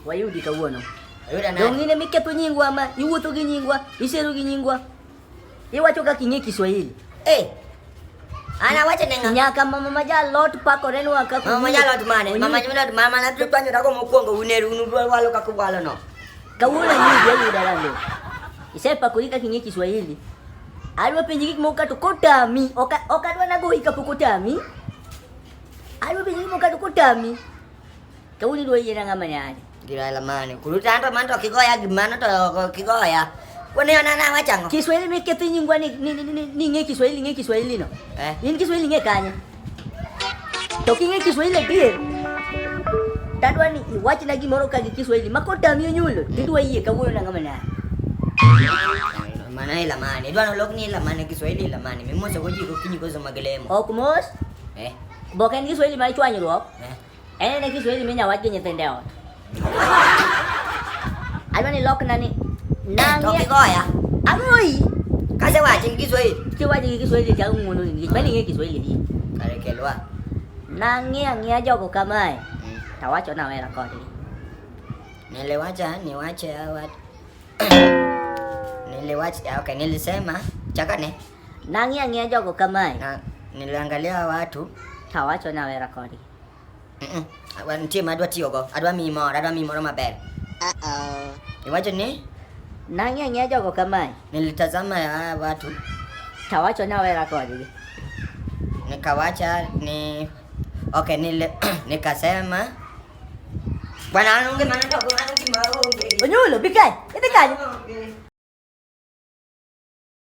Wayudi kawuono. Ayuda nani? Dong in ema iketho nyingwa ma iwuotho gi nyingwa, isero gi nyingwa. Iwacho kaka ing'e Kiswahili. Eh. Ana wacha nenga. Nyaka mama maja lot pakore nwa kaka. Mama maja lot mane? Mama maja lot mama na tu panyo dago mokwongo uneru unu walo kaka walo no. Kawuono yudo yudo lando. Isepakori kaka ing'e Kiswahili. Adwa penji gik moko kato kotami, ok ok adwa nago hika pok otami. Adwa penji gik moko kato kotami. Te uli do yira nga manyali. Gira la mane. Kuluta ando manto kigoya gimana to kigoya. Kwani ona na wachango. Kiswahili me ketu nyingwa ni ni ni ni ni nge Kiswahili nge Kiswahili no. Eh. Ni Kiswahili nge kanya. To kinge Kiswahili pia. Tadwa ni iwachi na gimoro ka gi Kiswahili makota miyo nyulo. Mm. Tidwa yie ka wuyo na nga manyali. Mana ila mane. Dwa no lok ni ila mane Kiswahili ila mane. Mimosa goji ko kinyi ko so magelemo. Ok mos. Eh. Oboke en Kiswahili mar chwanyruok. En en Kiswahili minya wach gi nyithinde ot. Adwa ni lokna ni To nangi kigoya. ang'oi. Kase wache gi Kiswahili. Kiwaji gi Kiswahili cha ng'uono ni nikech mani ng'e Kiswahili ni. Kare kelwa. Nang'i ang'ia jogo kamae. Mm. Tawacho na wera kodgi. Niliwacha niwache hawa. Niliwacha okay, nilisema chakane. Nang'i ang'iya jogo kamae. Na, niliangalia watu. Tawacho nawe rakodi. Mm -mm. Wa- Nitie ma adwa tiyogo. Adwa miyi moro, adwa miyi moro maber. Uh-oh. Iwacho ni Nang'i ang'iya jogo kamae. nilitazama ya watu Tawacho nawe rakodi. nikawacha ni okay, nili, nikasema bwana anunge maana ndio kuna kimaonge. Onyulo, bigay. Ito kayo.